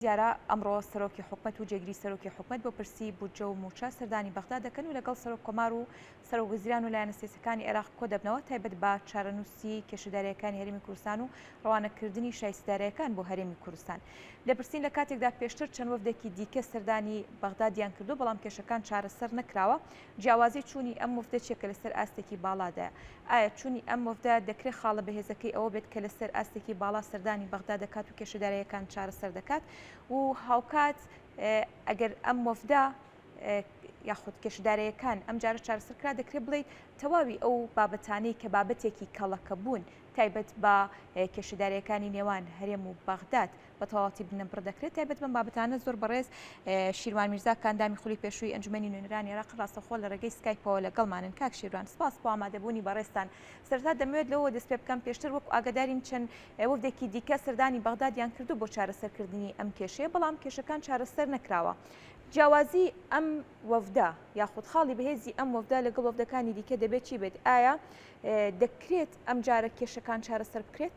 دیارە ئەمڕۆ سەرۆکی حکومەت و جێگری سەرۆکی حکومەت بۆ پرسی بودجە و مووچە سەردانی بەغدا دەکەن و لەگەڵ سەرۆک کۆمار و سەرۆک وەزیران و لایەنە سیاسیەکانی عێراق کۆدەبنەوە تایبەت بە چارەنووسی کێشەدارەیەکانی هەرێمی کوردستان و ڕەوانەکردنی شایستەدارەکان بۆ هەرێمی کوردستان دەپرسین لە کاتێکدا پێشتر چەند وەفدێکی دیکە سەردانی بەغدادیان کردووە بەڵام کێشەکان چارەسەر نەکراوە جیاوازی چوونی ئەم وەفدە چیە کە لەسەر ئاستێکی باڵادایە؟ ئایا چوونی ئەم وەفدە دەکرێت خاڵە بەهێزەکەی ئەوە بێت کە لەسەر ئاستێکی باڵا سەردانی بەغدا دەکات و کێشەدارەیەکان چارەسەر دەکات و هاوکات ئەگەر ئەم وەفدە یاخود کێشەدارەیەکان ئەم جارە چارەسەر کرا دەکرێت بڵیت تەواوی ئەو بابەتانەی کە بابەتێکی کەڵەکە بوون تایبەت بە کێشەدارەکانی نێوان هەرێم و بەغداد بە تەواوەتی بنەبڕ دەکرێت تایبەت بەم بابەتانە زۆر بەڕێز شیروان میرزا کاندامی خولی پێشووی ئەنجومەنی نوێنەرانی عێراق ڕاستەخۆ لە ڕێگەی سکایپەوە لەگەڵمانن کاک شیروان سپاس بۆ ئامادەبوونی بەڕێزتان سەرەتا دەمەوێت لەوە دەست پێ بکەم پێشتر وەک ئاگادارین چەند وەفدێکی دیکە سەردانی بەغدادیان کردو بۆ چارەسەرکردنی ئەم کێشەیە بەڵام کێشەکان چارەسەر نەکراوە جیاوازی ئەم وەفدە یاخود خاڵی بەهێزی ئەم وەفدە لەگەڵ وەفدەکانی دیکە دەبێت چی بێت ئایا دەکرێت ئەم جارە کێشەکان چارەسەر بکرێت؟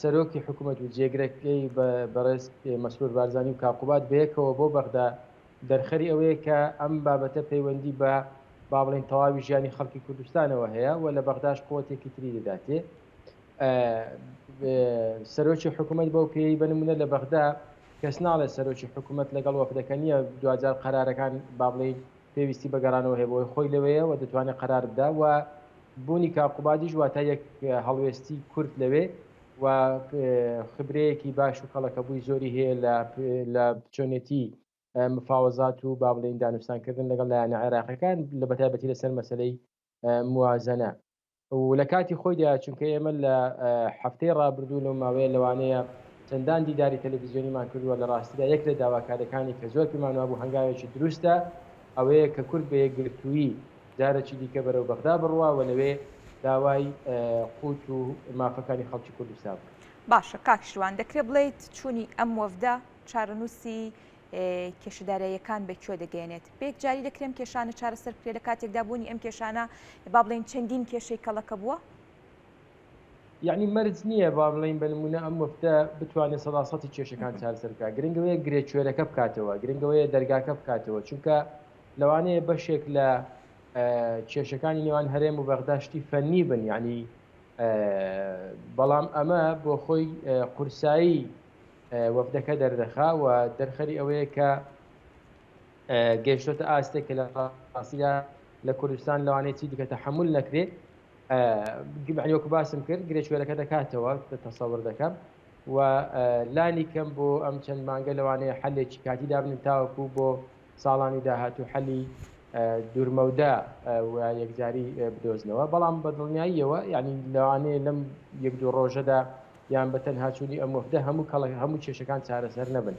سەرۆکی حکومەت و جێگرەکەی بەڕێز مەسرور بارزانی و کاقوباد بەیەکەوە بۆ بەغدا دەرخەری ئەوەیە کە ئەم بابەتە پەیوەندی بە با بڵێن تەواوی ژیانی خەڵکی کوردستانەوە هەیە و لە بەغداش قوتێکی تری دەداتێ سەرۆکی حکوومەت بەو پێی بنمونە لە بەغدا کەس ناڵێ سەرۆکی حکوومەت لەگەڵ وەفدەکە نییە دوجار قەرارەکان بابلین پێویستی بەگەڕانەوە هەیە بۆی خۆی لەوەیە و دەتوانێت قەرار بدا و بوونی کاک قوبادیش واتە یەک هەڵوێستی کورت لەوێ و خبرەیەکی باش و کەڵەکەبووی زۆری هەیە لە بچۆنێتی مفاوەزات و با بڵێن دانوستانکردن لەگەڵ لایەنە عێراقەکان لە بەتایبەتی لەسەر مەسلەی موازنە و لە کاتی خۆیدا چونکە ئێمە لە هەفتەی ڕابردوو لەو ماوەیە لەوانەیە چەندان دیداری تەلەڤزیۆنیمان کردووە لە ڕاستیدا یەک لە داواکارەکانی کە زۆر پێمانوا بوو هەنگاوێکی دروستە ئەوەیە کە کورد بە یەکگرتووی جارەکی دیکە بەرەو بەغدا بڕوا و لەوێ داوای قووت و مافەکانی خەڵکی کوردستان بکات. باشە کاک شوان دەکرێ بڵێیت چوونی ئەم وەفدە چارەنووسی کێشە داراییەکان بە کوێ دەگەێنێت پێک جاری دەکرێم کێشانە چارەسەر کرێ لە کاتێکدا بوونی ئەم کێشانە با بڵێن چەندین کێشەی کەڵەکە بووە یعنی مەرج نییە با بڵین بە نمونە ئەم وەفتە بتوانێت سەداسەتی کێشەکان چارسەرکە گرنگەوەیە گرێ کوێرەکە بکاتەوە گرنگەوەیە دەرگاکە بکاتەوە چونکە لەوانەیە بەشێک لە کێشەکانی نێوان هەرێم و بەغدا شتی فەنی بن یعنی بەڵام ئەمە بۆ خۆی قورسایی وەفدەکە دەردەخا و دەرخەری ئەوەیە کە گەشتە ئاستێک کە لە ئاسیدا لە کوردستان لەوانەیە چی دیکە تەحمل نەکرێت گبعیۆک باسم کرد گرێشوێرەکە دەکاتەوە تەسەور دەکەم و لانی کەم بۆ ئەم چەند مانگە لەوانەیە حلێکی کاتی دابن تاوەکو بۆ ساڵانی داهاتوو حەلی دوورمەودا و یەکجاری بدۆزنەوە بەڵام بە دڵنیاییەوە ینی لەوانەیە لەم یەک دوو ڕۆژەدا یان بە تەنهاچوونی ئەم وەفدە هەموو کەڵک هەموو کێشەکان چارەسەر نەبن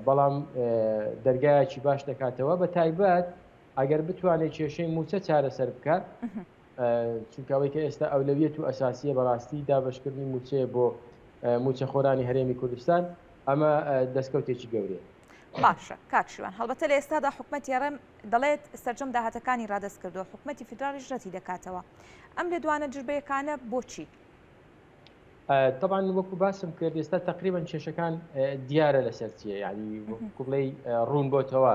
بەڵام دەرگایەکی باش دەکاتەوە بە تایبەت ئەگەر بتوانێت کێشەی موچە چارەسەر بکات چونکەوەی کە ئێستا ئەولەویت و ئەساسیە بەڕاستی دابشکردنی موچەیە بۆ موچەخۆرانی هەرێمی کوردستان ئەمە دەستکەوتێکی گەورێ باشە کاکشیوان هەڵبەتە لە ئێستادا حکوومەت یاڕێم دەڵێت سرجەم داهاتەکانی ڕادست کردو حکوومەتتی فیدراڵیش ڕەتی دەکاتەوە ئەم لە دوانە جربەیەکانە بۆچی طبعاان وەکو باسم کرد ئێستا تقریبان کێشەکان دیارە لەسەر چیە ینی کوڵی ڕوون بۆتەوە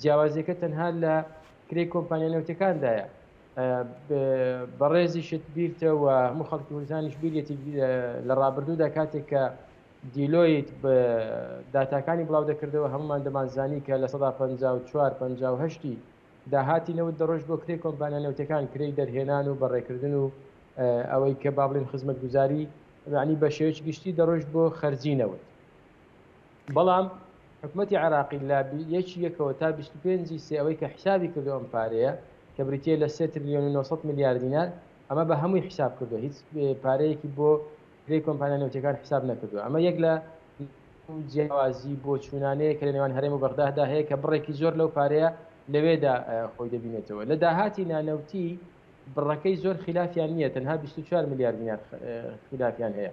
جیاوازیەکە تەنها لە کرێی کۆمپانیا نەوتەکاندایە بەڕێزیشت بیرتە و هەموو خەڵکی کوردستانیش بیرێتی لە ڕابردوودا کاتێک کە دیلۆیت بە داتاکانی بڵاو دەکردەوە هەمومان دەمانزانی کە لە سەدا 54 1950 داهاتی نەوت دەڕۆژ بۆ کرێ کۆمپانیا نەوتەکان کرێی دەرهێنان و بەڕێکردن و ئەوەی کە بابلین خزمەت گوزاری عنی بە شێوەیەکی گشتی دەڕۆژ بۆ خەرجی نەوت بەڵام حکومەتی عێراقی لە یەکی یەکەوە تا 25 ی سێ ئەوەی کە حیسابی کردووە ئەم پارەیە کە بریتییە لە سێ تریلیۆن و نۆ سەد ملیار دینار ئەمە بە هەمووی حیساب کردووە هیچ پارەیەکی بۆ کرێی کۆمپانیا نەوتیەکان حیساب نەکردووە ئەمە یەک لە جیاوازی بۆ چوونانەیە کە لە نێوان هەرێم و بەغدادا هەیە کە بڕێکی زۆر لەو پارەیە لەوێدا خۆی دەبینێتەوە لە داهاتی نانەوتی بڕەکەی زۆر خلافیان نییە تەنها 24 ملیار دینار خلافیان هەیە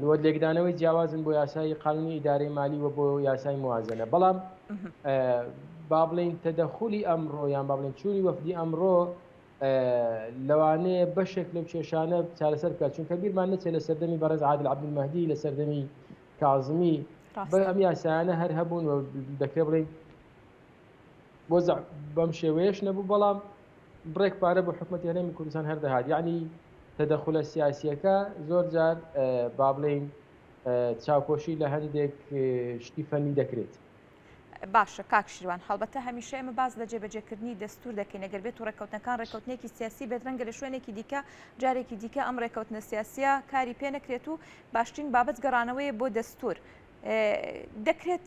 لۆ لێکدانەوەی جیاوازن بۆ یاسای قانونی ئیدارەی مالی و بۆ یاسای موازنە بەڵام بابلین تەدەخلی ئەمڕۆ یان بابلین چوری وەفدی ئەمڕۆ لەوانەیە بەشێک لەو کێشانە چارەسەر بکات چونکە بیرمان نەچێت لە سەردەمی بەڕێز عادل عبدمەدی لە سەردەمی کازمی بە ئەم یاسایانە هەر هەبوون و دەکرێ بڵین وەزع بەم شێوەیەش نەبوو بەڵام بڕێک پارە بۆ حکوومەت هەرێمی کوردستان هەردەهات یعنی تەدەخلە سیاسیەکە زۆر جار با بڵین چاوپۆشی لە هەندێک شتی فەنی دەکرێت. باشە کاک شیروان هەڵبەتە هەمیشە ئێمە باز لە جێبەجێکردنی دەستور دەکەین ئەگەر بێت و ڕێککەوتنەکان ڕێککەوتنێکی سیاسی بێت ڕەنگە لە شوێنێکی دیکە جارێکی دیکە ئەم ڕێککەوتنە سیاسە کاری پێ نەکرێت و باشترین بابەت گەڕانەوەی بۆ دەستور دەکرێت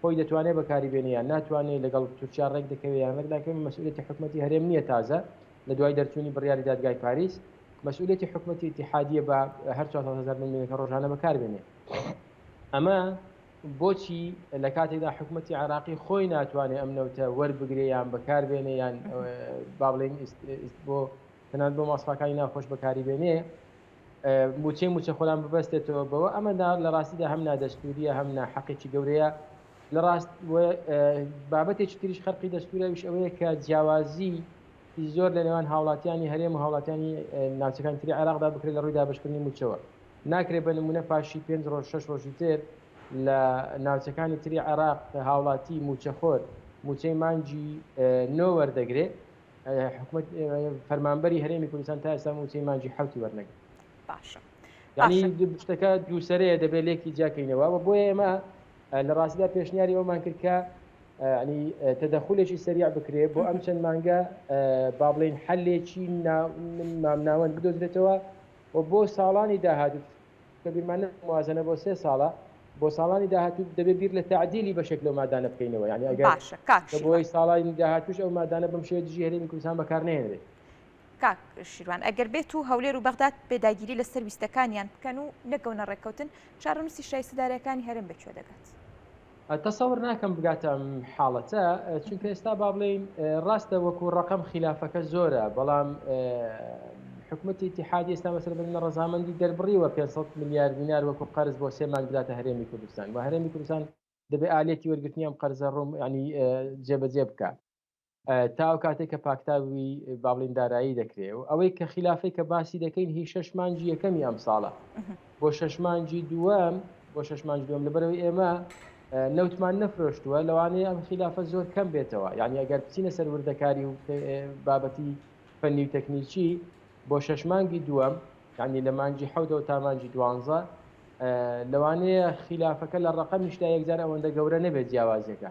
خۆی دەتوانێ بەکاری بێنێ یان ناتوانێ لەگەڵ تورکیا ڕێک دەکەوێ یان ڕێک ناکەوێ مەسئولێتی حکومەتی هەرێم نییە تازە لە دوای دەرچوونی بڕیاری دادگای پاریس مەسئولێتی حکومەتی اتحادیە بە هەر 400هزار ململەکە ڕۆژانە بەکار بێنێ ئەمە بۆچی لە کاتێکدا حکوومەتتی عراقی خۆی ناتوانێت ئەم نەوتە وەربگرێ یان بەکار بێنێ یان با بڵێن بۆ تەنان بۆ ماسفاکانی ناخۆش بەکاری بێنێ موچەی موچەخۆران ببەستێتەوە بەوە ئەمە لە ڕاستیدا هەم نادەستوریە هەم ناحەقێکی گەورەیە لە ڕاست بابەتێکی تریش خەرقی دەستورەویش ئەوەیە کە جیاوازی زۆر لە نێوان هاوڵاتیانی هەرێم و هاوڵاتیانی ناوچەکان تری عراقدا بکرێت لە ڕووی دابشکردنی موچەوە ناکرێت بە نمونە پاشی پێنج ڕۆژ شش ڕۆژی تر لە ناوچەکانی تری عراق هاوڵاتی موچەخۆر موچەی مانجی نۆ وەردەگرێت حکومەت فەرمانبەری هەرێمی کوردستان تا ئێستا موچەی مانجی حوتی وەرنەگرت باشە ینی شتەکە دووسەرەیە دەبێت لێکی جیاکەینەوە و بۆیە ئێمە لە ڕاستیدا پێشنیاری ئەومان کرد کە ینی تەدەخولێکی سەریع بکرێ بۆ ئەم چەند مانگە با بڵین حلێکی مامناوەند بدۆزرێتەوە و بۆ ساڵانی داهاتوو کە بیرمان لەم موازەنە بۆ سێ ساڵە بۆ ساڵانی داهاتوو دەبێت بیر لە تعدیلی بەشێک لەو مادانە بکەینەوە یعنی ئەگەر باشە کاک کە شیروان بۆی ساڵانی داهاتووش ئەو مادانە بەم شێوە دژی هەرێمی کوردستان بەکار نەهێنرێت کاک شیروان ئەگەر بێت و هەولێر و بەغداد پێداگیری لەسەر ویستەکانیان بکەن و نەکەونە ڕێککەوتن چارەنووسی شایستە دارایەکانی هەرێم بە کوێ دەگات؟ تەسەور ناکەم بگاتە ئەم حاڵەتە چونکە ئێستا با بڵێین ڕاستە وەکو ڕقم خلافەکە زۆرە بەڵام حکوومەتی اتحادی ئێستا مەسەر بە منە ڕزامەندی دەربڕیوە 500 میلیارد دینار وەکو قەرز بۆ سێ مانگ بداتە هەرێمی کوردستان و هەرێمی کوردستان دەبێ ئالێتی وەرگرتنی ئەم قەرزە ڕوم ینی جێبەجێ بکە تا ئەو کاتێک کە پاکتاوی باڵین دارایی دەکرێ و ئەوەی کە خلافی کە باسی دەکەین هی شش مانجی یەکەمی ئەم ساڵە بۆ شش مانجی دووەم بۆ شش مانج دوم لەبەرەوەی ئێمە نەوتمان نەفرۆشتووە لەوانەیە ئەم خلافە زۆر کەم بێتەوە یعنی ئەگەر بچینە سەر وردەکاری و بابەتی فەنی و تەکنیکی بۆ شش مانگی دووەم یعنی لە مانجی حەودەوە تا مانجی دوانزە لەوانەیە خلافەکە لە ڕقەمیشدا یەکجار ئەوەندە گەورە نەبێت جیاوازەکە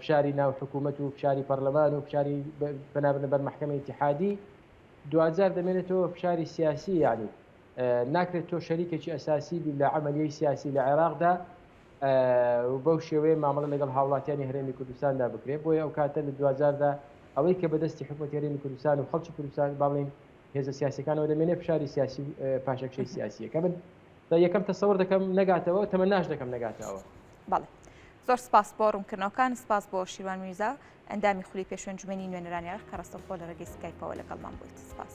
فشاری ناو حکوومەت و فشاری پەرلەمان و فشاری پەنابنە بەر محکمە اتحادی دوجار دەمێنێتەوە فشاری سیاسی یعنی ناکرێت تۆ شەریکێکی ئەساسی بی لە عملیی سیاسی لە عێراقدا بەو شێوەیە مامەڵە لەگەڵ هاوڵاتیانی هەرێمی کوردستاندا بکرێت بۆیە ئەو کاتە لە دوجاردا ئەوەی کە بەدەستی حکوومەت هەرێمی کوردستان و خەڵکی کوردستان باڵین هێزە سیاسەکانەوە دەمێنێ فشاری سیاسی پاشەکشەی سیاسیەکە من بە یەکەم تەسەور دەکەم نەگاتەوە تەمەناش دەکەم نەگاتە ئەوە بەڵێ زۆر سپاس بۆ ڕوونکردنەوەکان سپاس بۆ شیوان میرزا ئەندامی خولی پێشوێنجومێنی نوێنەرانی عێراق کە ڕاستەوخۆ لە ڕێگەی سکایپەوە لەگەڵمان بوویت سپاس.